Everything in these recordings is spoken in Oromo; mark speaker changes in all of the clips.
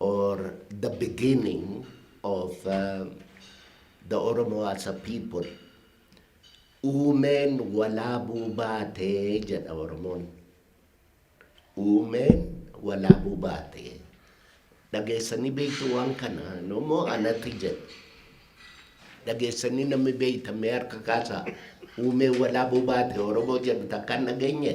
Speaker 1: or the beginning of uh, the Oromo as a people uumeen walaabuu baatee jedha Oromoon. Uumeen walaabuu baatee. Dhageessanii beektu waan kana immoo anatti jedha. Dhageessanii namni beektamee harka kaasaa uumeen walaabuu baate Oromoo jedhu takkaan dhageenye.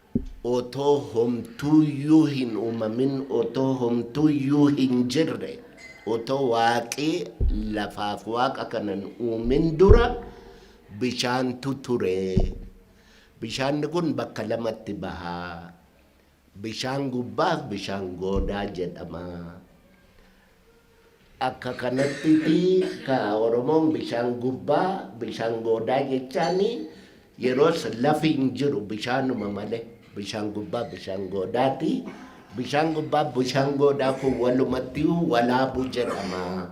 Speaker 1: otoo homtuuyyuu hin uumamin, otoo homtuuyyuu hin jirre, otoo Waaqi lafaaf waaqa kana hin uumin dura bishaantu ture. Bishaanni kun bakka lamatti baha. Bishaan gubbaaf bishaan goodaa jedhama. Akka kanattiti ka Oromoon bishaan gubbaa, bishaan goodaa jechaan yeroos lafi hin jiru bishaanuma male bishaan gubbaa bishaan goodaati. Bishaan gubbaa bishaan goodaa kun walumattiyu walaabu jedhama.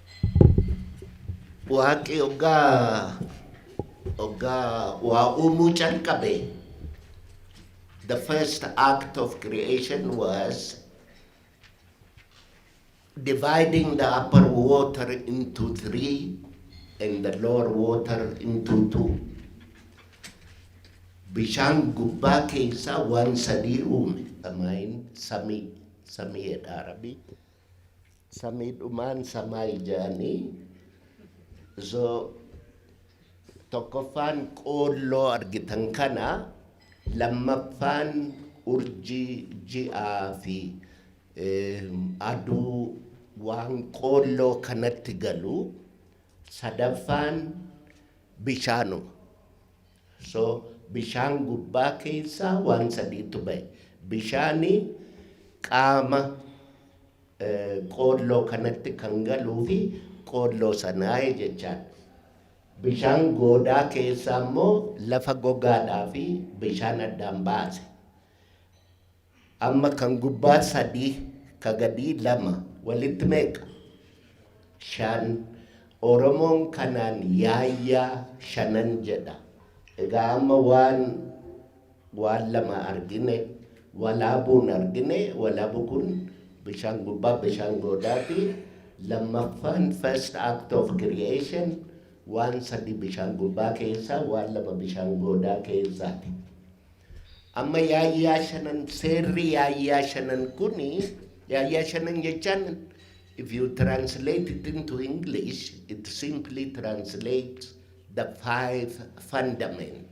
Speaker 1: Waaqi ogga ogga waa uumuu calqabe the first act of creation was dividing the upper water into three and the lower water into two. Bishaan gubbaa keessaa waan sadii uume. Samaayini samii samiidha rabii. Samii dhumaan samaa ijaanii so tokkoffaan qoolloo argitan kana lammaffaan urjii ji'aa fi aduu waan qoolloo kanatti galu sadaffaan bishaanuma so bishaan gubbaa keessaa waan sadiitu ba'e bishaani qaama Qoolloo kanatti kan galuu fi qoolloo sanaa jechaan. Bishaan goodaa keessaa immoo lafa gogaadhaa fi bishaan addaan baase. Amma kan gubbaa sadii ka gadii lama walitti meeqa? Shan. Oromoon kanaan yaayyaa shanan jedha. Egaa amma waan Waan lama argine walaabuun argine walabu kun bishaan gubbaa bishaan goodaati lammaffaan first act of creation waan sadii bishaan gubbaa keessaa waan lama bishaan goodaa keessaati amma yaayyaa shanan seerri yaayyaa shanan kun yaayyaa shanan jechaan if you translate it into english it simply translates the five fundament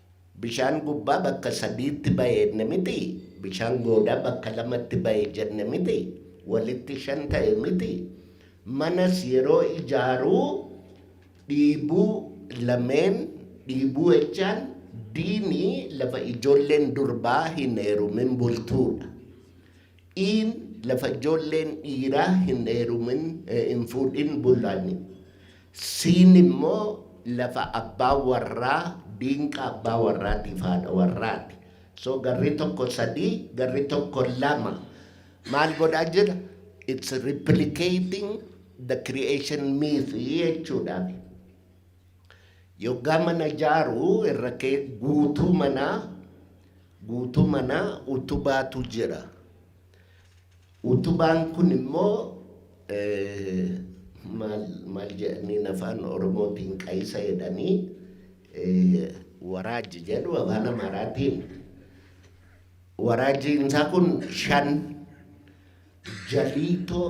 Speaker 1: Bishaan gubbaa bakka sadiitti ba'e jenne mitii? Bishaan goodaa bakka lamatti ba'e jenne mitii? Walitti shan ta'e mitii? Manas yeroo ijaaru dhiibuu lameen dhiibuu jechaan diini lafa ijoolleen durbaa hin heerumin bultuudha. Iin lafa ijoolleen dhiiraa hin heerumin hin fuudhin bulani. Siin immoo lafa abbaa warraa diinqa abbaa warraatiif haadha warraati. So garri tokko sadii garri tokko lama maal godhaa jira? It's replicating the creation myth jechuudhaafi. Yoggaa mana ijaaru irra kee guutuu manaa guutuu manaa utubaatu jira. Utubaan kun immoo maal maal jedhaniin afaan oromootiin qayisa jedhanii waraajji jedhu afaan amaaraatiin waraajjiin isaa kun shan jaliitoo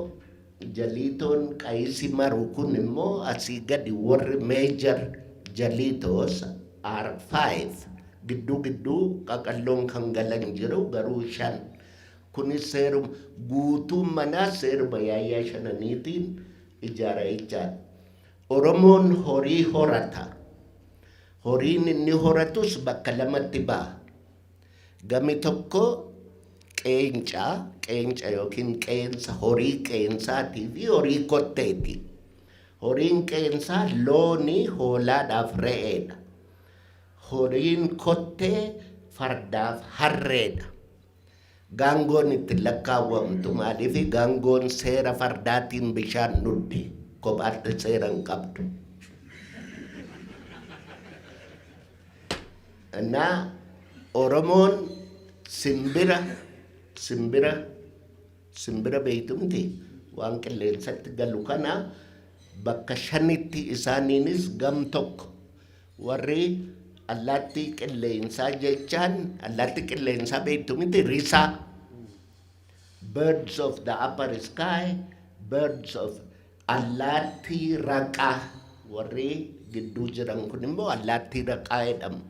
Speaker 1: jaliitoon qayisi maru kun immoo asii gadi warri meejar jaliitoos are five gidduu gidduu qaqalloon kan galan jiru garuu shan Kunis seeruma guutuun manaa seeruma yaayyaa shananiitiin ijaara jechaadha. Oromoon horii horata. Horiin inni horatus bakka lamatti ba'a. Gami tokko qeenca, qeenca yookiin qeensa horii qeensaatii fi horii kotteeti. Horiin qeensaa looni, hoolaadhaaf re'eedha. Horiin kottee fardaaf harreedha. Gaangoon itti lakkaawwamtu maaliifi? Gaangoon seera fardaatiin bishaan dhugdi. Kophaatti seera hin qabdu. Innaa Oromoon simbira simbira simbira beektu miti waan qilleensatti galu kana bakka shanitti isaaniinis gam tokko Warri allaattii qilleensaa jechaan allaattii qilleensaa beektu miti risaa. Birds of the upper sky, birds of allaattii raqaa. Warri gidduu jiran kun immoo allaattii raqaa jedhamu.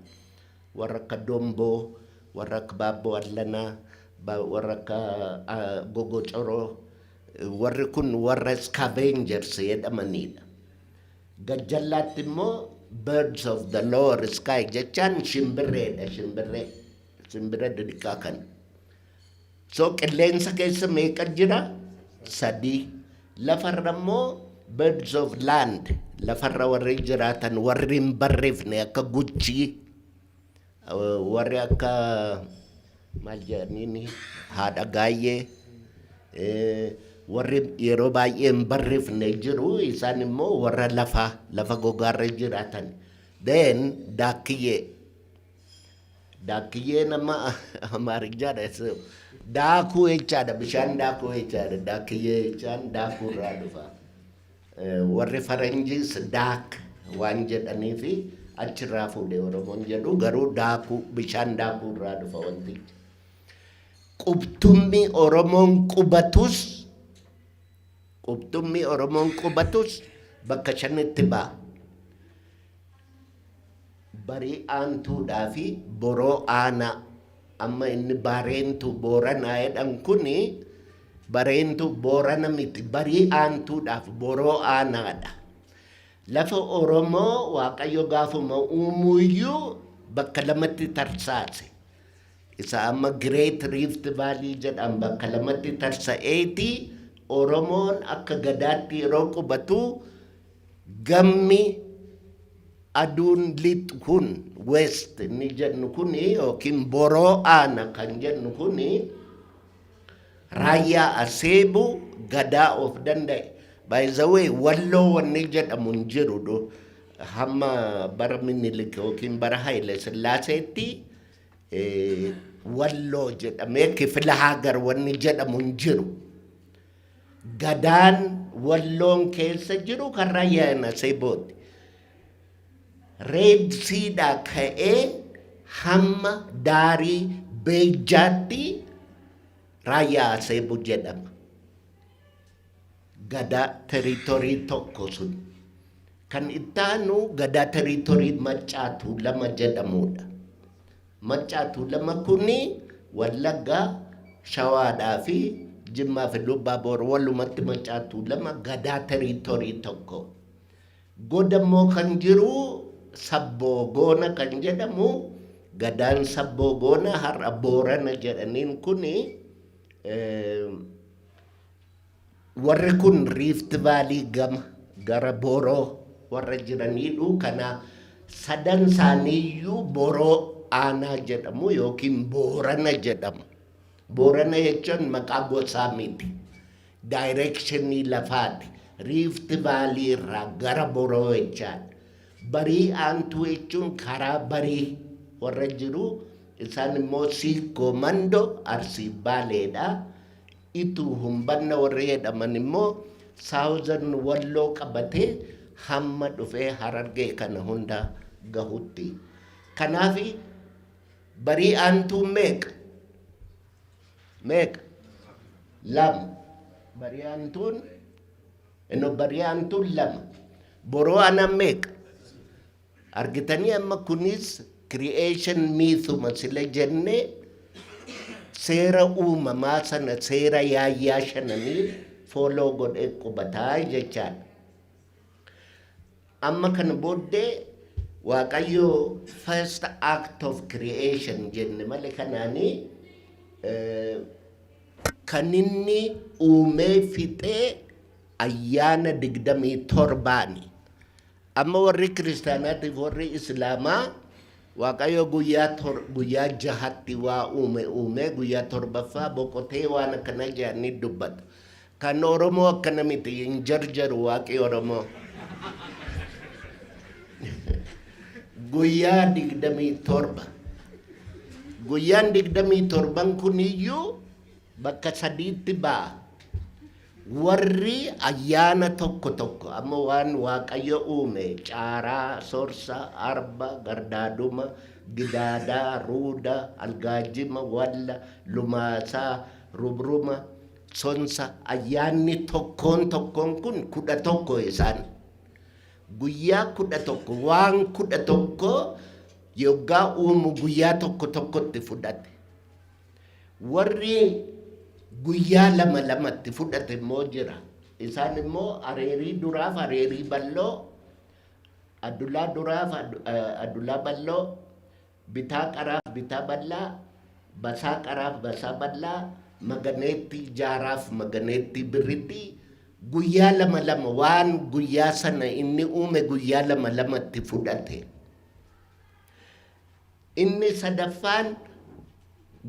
Speaker 1: Warra akka domboo, warra akka baabboo allanaa, ba- warra akka ah, gogocoroo. Warri kun warra scavengers jedhamanidha. Gajjallaatti immoo birds of the lower sky jechaan shimbirreedha shimbirree shimbira didhiqaa kan so qilleensa keessa meeqa jira sadii lafarra immoo birds of land lafarra warri jiraatan warri hin barreefne akka guchii Warri akka maal jedhaniin haadha gaayyee eh, warri yeroo baay'ee hin barrifne jiru isaan immoo warra lafa lafa gogaarra jiraatan then daakiyyee daakiyyee nama amaarichaadha so daakuu jechaadha bishaan daakuu jechaadha daakiyyee jechaan daakuu irraa dhufa. Warri faranjiis daak waan jedhaniifi achirraa fuudhe Oromoon jedhu garuu daakuu bishaan daakuu irraa dhufa wantichi. Qubtummi Oromoon qubatus qubtummi Oromoon qubatus bakka shanitti ba'a. Barii Aantuudhaa fi Boroo Aanaa. Amma inni Baareentuu Booranaa jedhan kun Bareentuu Boorana miti Barii Aantuudhaa fi Boroo Aanaadha. Lafa Oromoo Waaqayyo gaafuma uumuu iyyuu bakka lamatti tarsaase. Isa amma Great Rift Valley jedhan bakka lamatti tarsa'eeti Oromoon akka gadaatti yeroo qubatu Gammi aduun lixxu kun, west, inni jennu kun yookiin boroo aana kan jennu kun raayyaa aseebu gadaa of danda'e by the way walloo wanni jedhamu hin jiru du hamma bara minilik yookiin bara haile sillaaseetti eh, walloo jedhamee kifila haagar wanni jedhamu hin jiru Gadaan Walloon keessa jiru kan Raayyaa Nasebooti. Reed Siidhaa ka'ee hamma daarii Beejjaatti Raayyaa Aseebuu jedhama. Gadaa teriitorii tokko sun. Kan itti aanu gadaa teriitorii Maccaa Tuulama jedhamudha. Maccaa Tuulam Makkunnii, Wallaggaa, Shawaadhaa fi Jimmaa fi Lubbaaboor walumatti Maccaa Tuulama Gadaa Teriitorii tokko. Goda immoo kan jiru Sabboo Goona kan jedhamu Gadaan Sabboo Goona har'a Boorana jedhaniin kuni Warri kun Riift Vaalii gama gara Boroo warra jiraniidhu. Kana sadan isaaniiyyuu Boroo Aanaa jedhamu yookiin Boorana jedhamu. Boorana jechuun maqaa gosaa miti. Daayireekshinii lafaati. Riift Vaalii irraa gara Boroo jechaadha. Barii Aantuu jechuun karaa barii warra jiru. Isaan immoo Siikkoo Mandoo Arsii Baaleedha. Itu humbanna warri jedhaman immoo southern walloo qabatee hamma dhufee harargee kana hunda gahutti. Kanaafi barii aantuun meeqa? Meeqa? Lama. Barii aantuun eno barii aantuun lama. Boroo anan meeqa? Argitanii amma kunis creation mythuma sila jenne seera uumamaa sana seera yaayyaa shananii follow godhee qubataa jechaadha. Amma kana booddee Waaqayyo first act of creation jenne malee kanaanii eh, kan inni uumee fixee ayyaana digdamii torbaani. Amma warri kiristaanaatiif warri islaamaa Waaqayyo guyyaa tor guyyaa jahatti waa uume uumee guyyaa torbaffaa boqotee waan akkana jedhanii dubbatu. Kan Oromoo akkana miti hin jarjaru waaqi Oromoo. guyyaa digdamii torba. Guyyaan digdamii torban kun iyyuu bakka sadiitti ba'a. Warri ayyaana tokko tokko amma waan Waaqayyo uume, caaraa, sorsa, arba, gardaaduma, gidaada, ruuda, algaajima, walla, lumaasa, rubruma, sonsa, ayyaanni tokkoon tokkoon kun kudha tokko isaan. Guyyaa kudha tokko, waan kudha tokko yoggaa uumu guyyaa tokko tokkotti fudhate. Warri guyyaa lama lamatti fudhate immoo jira. Isaan immoo areerii duraaf areerii balloo, adulaa duraaf adulaa balloo, bitaa qaraaf bitaa ballaa, basaa qaraaf basaa ballaa, maganeettii jaaraaf maganeettii birritti guyyaa lama lama waan guyyaa sana inni uume guyyaa lama lamatti fudhate. Inni sadaffaan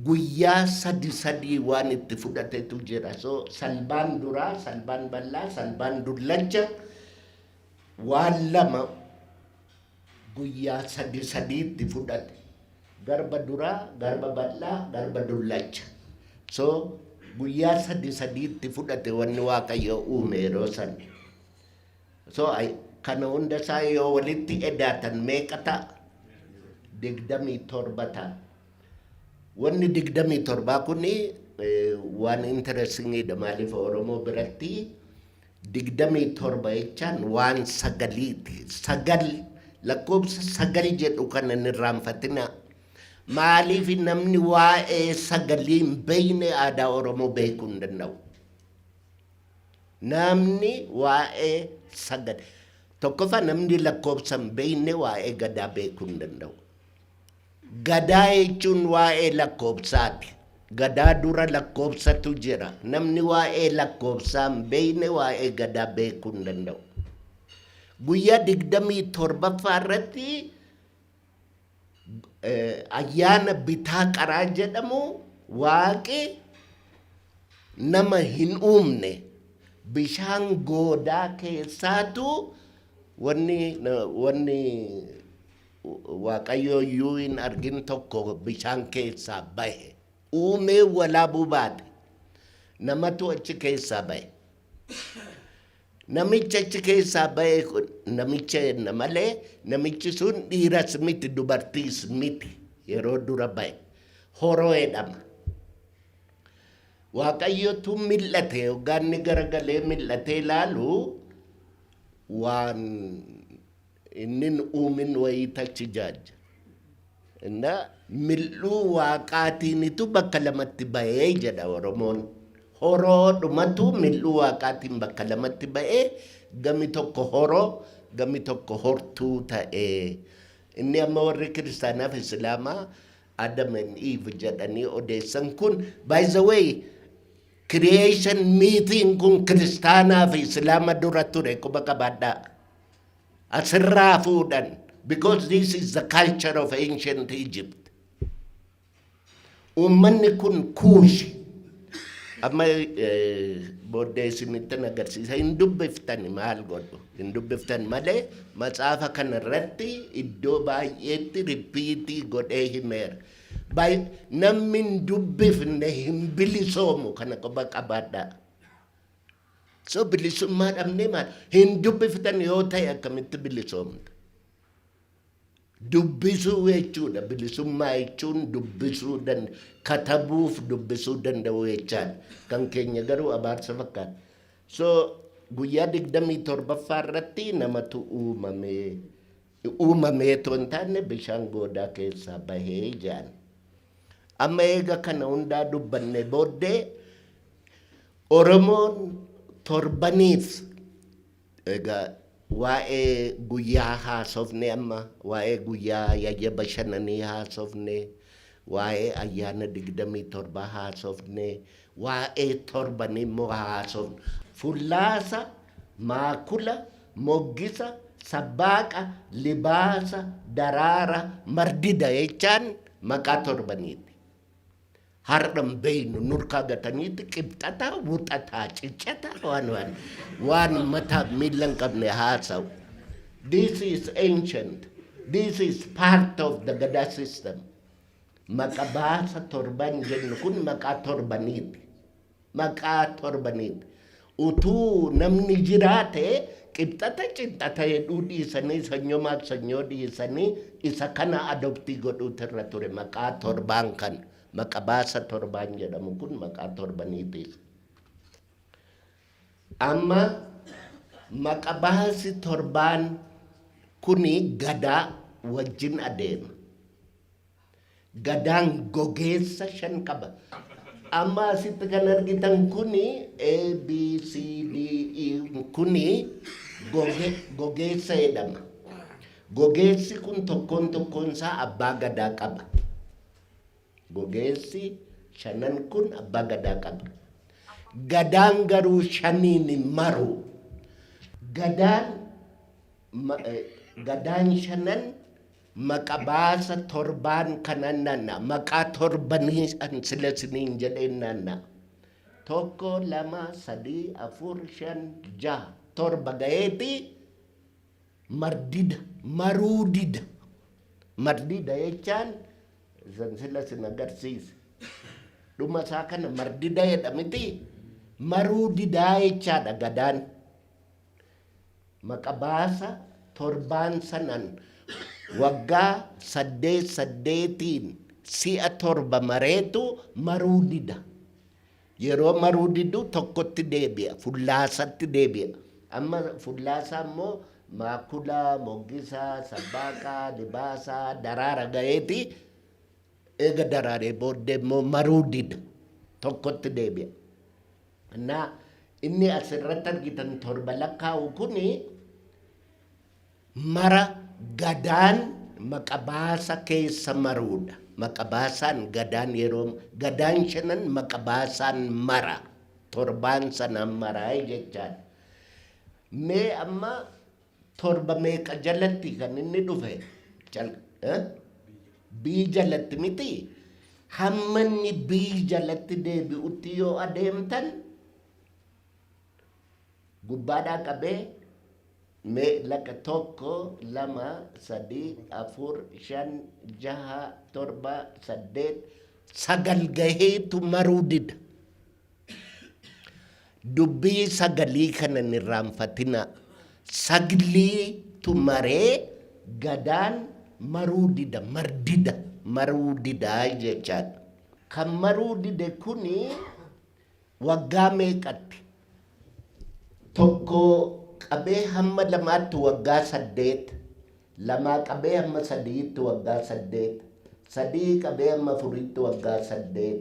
Speaker 1: guyyaa sadi sadii waan itti fudhatetu jira. So salbaan duraa, salbaan bal'aa, salbaan dullacha waan lama guyyaa sadi sadii itti fudhate. Garba duraa, garba bal'aa, garba dullacha. So guyyaa sadi sadii itti fudhate wanni Waaqayyo uume yeroo san. So I kana hunda isaa yoo walitti edaatan meeqa ta'a? Digdamii torba ta'a. Wanni digdamii torbaa kun waan interestingidha maaliif Oromoo biratti digdamii torba jechaan waan sagaliiti. Sagal lakkoofsa sagal jedhu kana hin irraanfatinaa. Maaliif namni waa'ee sagalii hin beekne aadaa Oromoo beekuu hin danda'u. Naamni waa'ee sagada tokkoffaa namni lakkoofsa hin beekne waa'ee gadaa beekuu hin danda'u. Gadaa jechuun waa'ee lakkoofsaati. Gadaa dura lakkoofsatu jira. Namni waa'ee lakkoofsaa hin beekne waa'ee gadaa beekuu hin danda'u. Guyyaa digdamii torbaffaa irratti ayyaana bitaa qaraa jedhamu waaqi nama hin uumne bishaan goodaa keessaatu wanni wanni waaqayyoo iyyuu hin argin tokko bishaan keessaa bahe uumee walaabuu baate namatu achi keessaa bahe Namichi achi keessaa ba'e kun namicha jenna malee namichi sun dhiiras miti dubartiis miti yeroo dura ba'e horoo jedhama. Waaqayyotu mil'ate yoggaanni garagalee mil'atee ilaalu waan Innin uumin wayii tachi jaajja. Inna mil'uu waaqaatiinitu bakka lamatti ba'e jedha Oromoon. Horoodhumatu mil'uu waaqaatiin bakka lamatti ba'ee gami tokko horoo gami tokko hortuu ta'e. Inni amma warri kiristaanaa fi isilaamaa Adam and Eve jedhanii odeessan kun by the way creation mythiin kun kiristaanaa fi islaama dura ture quba qabaadhaa. asirraa fuudhan because this is the culture of ancient Egypt. Uummanni kun kuushi amma eh, booddee isinittin agarsiisa hin dubbiftani maal godhu hin dubbiftan malee matsaafa kana irratti iddoo baay'eetti ripiitii godhee himeera. Baay- Namni hin dubbifne hin bilisoomu kana qofa qabaadhaa. So bilisummaa dhabnee maal hin dubbiftan yoo ta'e akkamitti bilisoomta? Dubbisuu jechuudha bilisummaa jechuun dubbisuu dan katabuuf dubbisuu danda'uu jechaadha. Kan keenya garuu abaarsa fakkaata. So guyyaa digdamii torbaffaa irratti namatu uumamee uumamee otoo hin taanne bishaan goodaa keessaa bahee jedhan. Amma eega kana hundaa dubbannee booddee Oromoon torbaniif egaa waa'ee guyyaa haasofne amma waa'ee guyyaa yayya bashananii haasofne waa'ee ayyaana digdamii torba haasofne waa'ee torbanii immoo haasofne fullaasa maakula moggisa, sabbaaqa, libaasa, daraara, mardida jechaan maqaa torbaniiti. Har'a hin beeynu nurkaa gataniiti qibxata, wuxataa, ciccata waan waan waan mataa miilla hin qabne haasa'u. This is ancient. This is part of the Gadaa system. Maqa baasa torban jennu kun maqaa torbaniiti. maqaa torbaniin utuu namni jiraate qibxata qibxata jedhuu dhiisanii sanyomaaf sanyoo dhiisanii isa kana adoptii godhuutu irra ture maqaa torbaan kan maqabaasa torbaan jedhamu kun maqaa torbaniitiif. Amma maqabaasi torbaan kuni gadaa wajjin adeema. Gadaan gogeessa shan qaba. Amma asitti kan argitan kuni A, B, C, D, E kuni goge, gogeessa jedhama. Gogeessi kun tokkoon tokkoon isaa abbaa gadaa qaba. Gogeessi shanan kun abbaa gadaa qaba. Gadaan garuu shaniin hin maru. Gadaan, ma, eh, gadaan shanan Maqa baasa torbaan kanan nanna maqaa torbanii an sila isiniin jedheen nanna tokko lama sadii afur shan jaha torba gaheeti mardida maruu dida mardida jechaan isan sila isin agarsiise dhuma isaa kana mardida jedha miti maruu didaa jechaadha gadaan Maqa baasa torbaan sanan waggaa saddeet saddeetiin si'a torba mareetu maruu dida. Yeroo maruu didu tokkotti deebi'a, fullaasatti deebi'a. Amma fullaasaa immoo maakula, moggisa, sabbaaka, libaasa, daraara ga'eeti eega daraaree booddee immoo maruu dida. Tokkotti deebi'a. Anna, inni as irratti argitan torba lakkaa'u kun mara gadaan maqabaasa keessa maruudha. Maqabaasaan gadaan yeroo gadaan shanan maqabaasaan mara torbaan sanaan maraa jechaadha. Mee amma torba meeqa jalatti kan inni dhufe Jal- eh? bii jalatti miti hamma inni bii jalatti deebi'utti yoo adeemtan gubbaadhaa qabee mee laqa tokko lama sadii afur shan jaha torba saddeet sagal gaheetu maruu dida Dubbii saglii kana hin irraanfatinaa. Sagliitu maree Gadaan maruu dida, mardida, maruu dida jechaadha. Kan maruu dide kuni waggaa meeqatti? Tokkoo qabee hamma lamaatti waggaa saddeet, lamaa qabee hamma sadi'itti waggaa saddeet, sadi'ii qabee hamma afuriitti waggaa saddeet,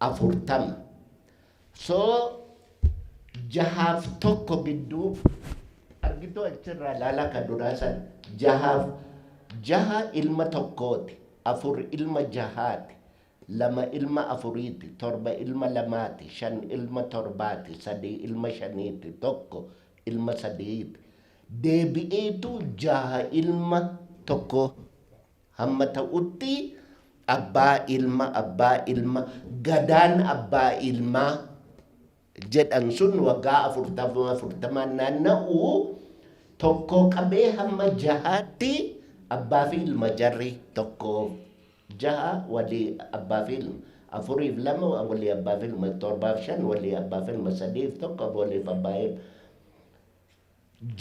Speaker 1: afurtama. So jahaaf tokko gidduu argituu achirraa ilaalaa kan duraa san jahaaf jaha ilma tokkooti afur ilma jahaati lama ilma afuriiti torba ilma lamaati shan ilma torbaati sadii ilma shaniiti tokko ilma sadiiti deebi'eetu jaha ilma tokko hamma ta'utti abbaa ilma abbaa ilma gadaan abbaa ilmaa jedhan sun waggaa afurtama afurtamaan naanna'u tokkoo qabee hamma jahaatti abbaa fi ilma jarri tokko jaha walii abbaa fi ilma afuriif lama walii abbaa fi ilma torbaaf shan walii abbaa fi ilma sadiif tokko waliif abbaa ilma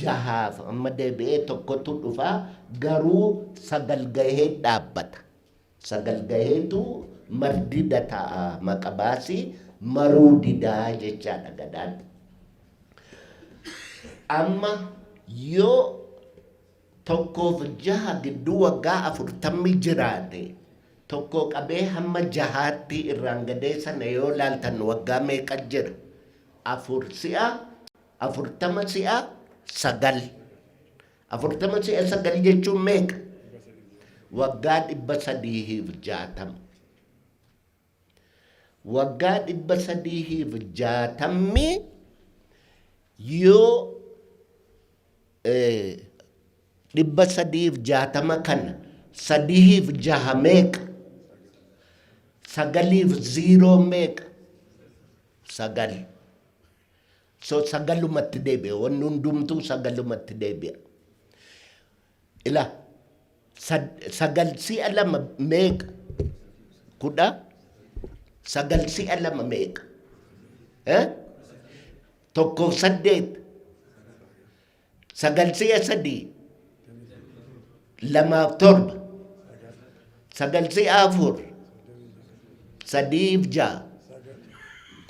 Speaker 1: jahaaf amma deebi'ee tokkotu dhufa garuu sagal gahee dhaabbata sagal gaheetu mardida ta'a maqa baasii maruu didaa jechaadha gadaan amma yoo tokkoof jaha gidduu waggaa afurtammi jiraate tokko qabee hamma jahaatti irraan gadee sana yoo laaltan waggaa meeqa jira afur si'a afurtama si'a sagal. Afurtama si'a sagal jechuun meeqa? Waggaa dhibba sadiihiif jaatama. Waggaa dhibba sadiihiif jaatamni yoo dhibba sadiif jaatama kana sadihiif jaha meeqa? Sagaliif ziiroo meeqa? Sagal. So sagalumatti deebi'a. Wanni hundumtuu sagalumatti deebi'a. Ila sagal si'a lama meeqa? Kudha sagal si'a lama meeqa? Tokkoof saddeet sagal si'a sadii lamaaf torba sagal si'a afur sadiif ja'a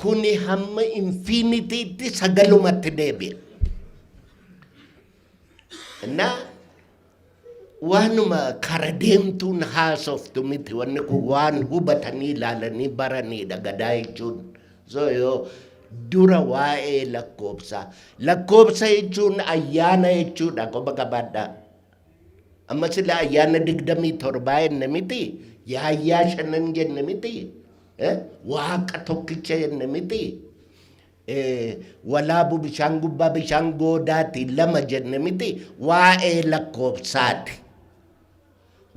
Speaker 1: kuni hamma infiinitiitti sagalumatti deebi'a. Innaa waanuma kara deemtuun haasoftu miti wanni kun waan hubatanii ilaalanii baraniidha gadaa jechuun zoyoo dura waa'ee lakkoobsaa lakkoobsa jechuun ayyaana jechuudha qoba qabaadhaa amma sila ayyaana digdamii torbaa jenne miti yaayyaa shanan jenne miti eh? waaqa tokkicha jenne miti ee walaabu bishaan gubbaa bishaan goodaati lama jenne miti waa'ee lakkoofsaati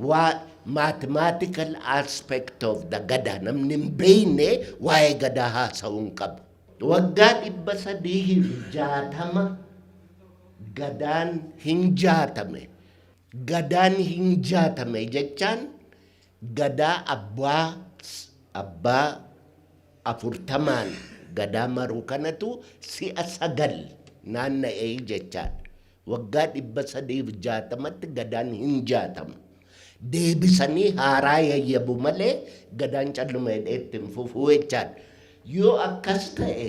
Speaker 1: waa mathematical aspect of the gadaa namni hin beeyne waa'ee gadaa haasa'uu hin qabu waggaa dhibba sadiihiif jaatama gadaan hin jaatame gadaan hin jaatame jechaan Gadaa abbaa abbaa afurtamaan gadaa maruu kanatu si'a sagal naanna'e jechaadha. Waggaa 360tti gadaan hin jaatamu. Deebisanii haaraa yayyabu malee gadaan calluma jedhee itti hin fufu jechaadha. Yoo akkas ta'e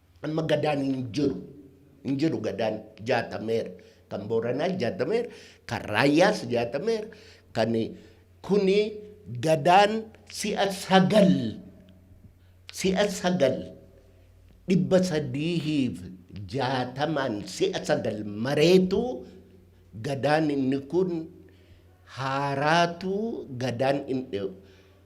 Speaker 1: Amma gadaan hin jiru. Hin jiru gadaan jaatameera. Kan Booranaas jaatameera. Kan Raayyaas jaatameera. Kan kuni gadaan si'a sagal si'a sagal dhibba sadiihiif jaatamaan si'a sagal mareetu gadaan inni kun haaraatu gadaan inni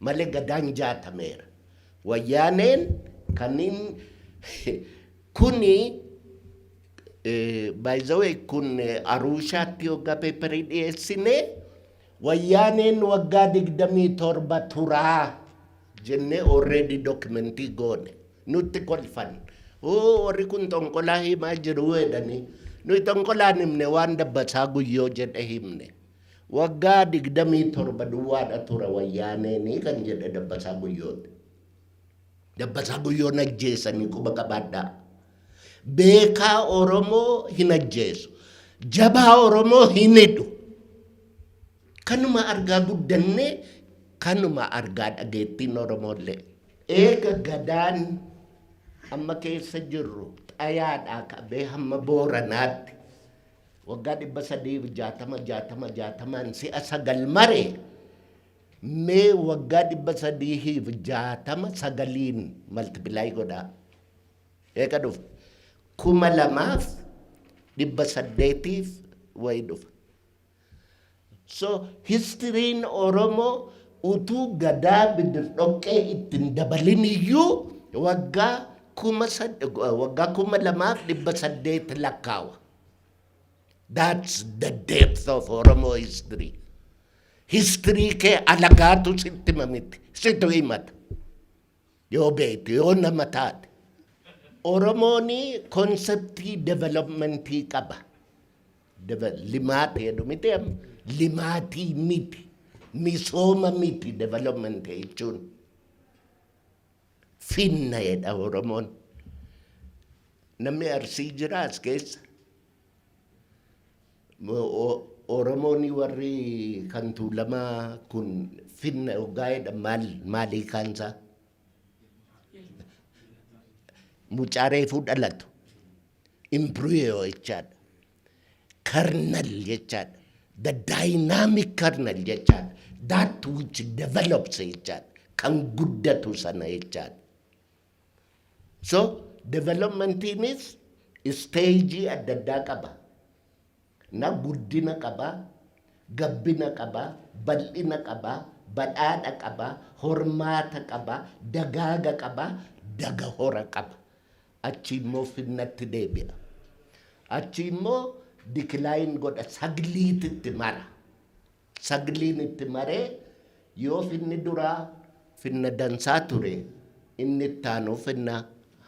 Speaker 1: malee gadaan nyaatameera. Wayyaaneen kanniin kuni by the way kun Aruushaatti hoggaa peeperii dhiyeessine wayyaaneen waggaa digdamii torba turaa jennee already dokumentii goone nutti kolfan oo warri kun xonqolaa himaa jiru jedhanii nuyi xonqolaan himne waan dabbasaa guyyoo jedhe himne. Waggaa 27 duwwaadha tura wayyaaneen kan jedhe Dabbasaa Guyyoon. Dabbasaa Guyyoon ajjeesanii quba qabaadhaa. Beekaa Oromoo hin ajjeesu. Jabaa Oromoo hin hidhu. Kanuma argaa guddannee kanuma argaa dhageettiin Oromoollee. Eega gadaan amma keessa jirru xayaadhaa qabee hamma booranaatti waggaa dhibba sadiif jaatama jaatama jaatamaan si'a sagal mare mee waggaa dhibba sadiif jaatama sagaliin maltipilaay godhaa eega dhufa kuma lamaaf dhibba saddeetiif wayi dhufa So histiriin Oromoo utuu Gadaa Bidirdhoqqee itti hin dabalin iyyuu waggaa kuma sad- waggaa kuma lamaaf dhibba saddeet lakkaawa. That's the depth of Oromo history. History kee alagaatu sitti hima miti. Situ himata. Yoo beekte, yoo nama taate. Oromoon konseptii developmentii qaba. Limaata jedhu miti amma. Limaatii miti. Misooma miti development jechuun. Finna jedha Oromoon. Namni Arsii jira as keessa. Oromooni warri kan Tuulamaa kun finna hoggaa jedhan maal maal hiikaan isaa? Mucaa reefuu dhalatu imbriyo jechaadha. Kernel jechaadha. The dynamic kernel jechaadha. That which develops jechaadha. Kan guddatu sana jechaadha. So developmentiinis isteejii adda addaa qaba. Na guddina qaba, gabbina qaba, bal'ina qaba, badhaadha qaba, hormaata qaba, dagaaga qaba, dagahora qaba. Achi immoo finnatti deebi'a. Achi immoo decline godha sagliititti mara. Sagliin itti maree yoo finni duraa finna dansaa ture inni ittaanu finna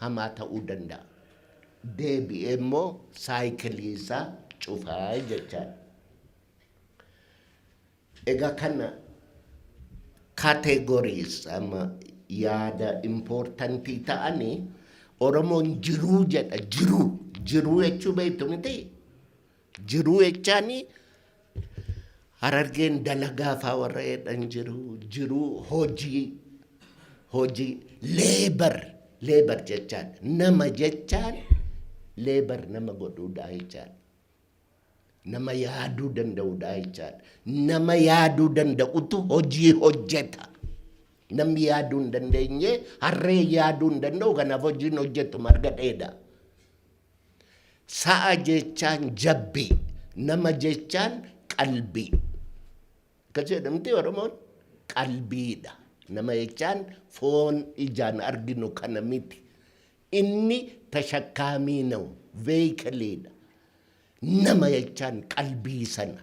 Speaker 1: hamaa ta'uu danda'a. Deebi'ee immoo saayikilii isaa cufa jechaadha. Egaa kana categories amma yaada importantii ta'ani Oromoon jiruu jedha jiruu jiruu jechuu beektu miti jiruu jechaani harargeen dalagaa faa warra jedhan jiru jiruu hojii hojii leebar leebar jechaan nama jechaan leebar nama godhuudhaa jechaan nama yaaduu danda'uudhaa jechaan nama yaaduu danda'utu hojii hojjeta namni yaaduu hin dandeenye harree yaaduu hin danda'u kanaaf hojiin hojjetu marga dheeda. Sa'a jechaan jabbii, nama jechaan qalbii. Akkas jedha miti Oromoon? Qalbiidha. Nama jechaan foon ijaan arginu kana miti. Inni tashakkaamii nawu, veeyikiliidha. Nama jechaan qalbii sana.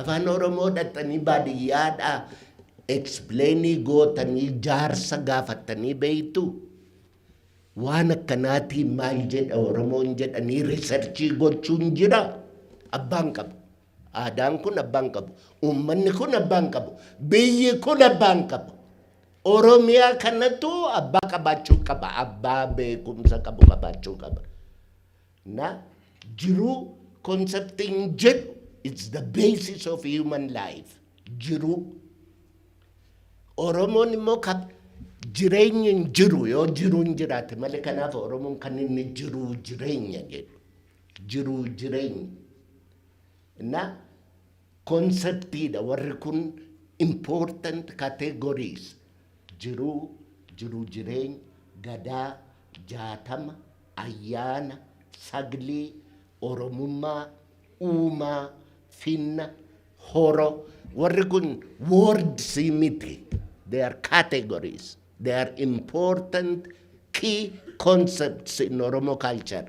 Speaker 1: Afaan oromoo dhaqxanii baadiyyaadhaa explain gootanii jaarsa gaafattanii beektuu? Waan akkanaatiin maal jedha oromoon jedhanii researchii gochuun jira? Abbaan qabu. Aadaan kun abbaan qabu. Uummanni kun abbaan qabu. Biyyi kun abbaan qabu. Oromiyaa kanatu abbaa qabaachuu qaba. Abbaa beekumsa qabu qabaachuu qaba. Na jiruu concepting jedhu it's the basis of human life. Jiruu. Oromoon immoo ka jireenyi hin jiru yoo jiruun jiraate malee kanaaf Oromoon kan inni jiruu jireenya jedhu. Jiruu jireenya. Na konseptiidha warri kun important categories jiruu jiruu jireenya gadaa jaatama Ayyaana, Saglee, Oromummaa, Uumaa, Finna, Horo, warri kun words miti. They are categories. They are important key concepts in Oromo culture.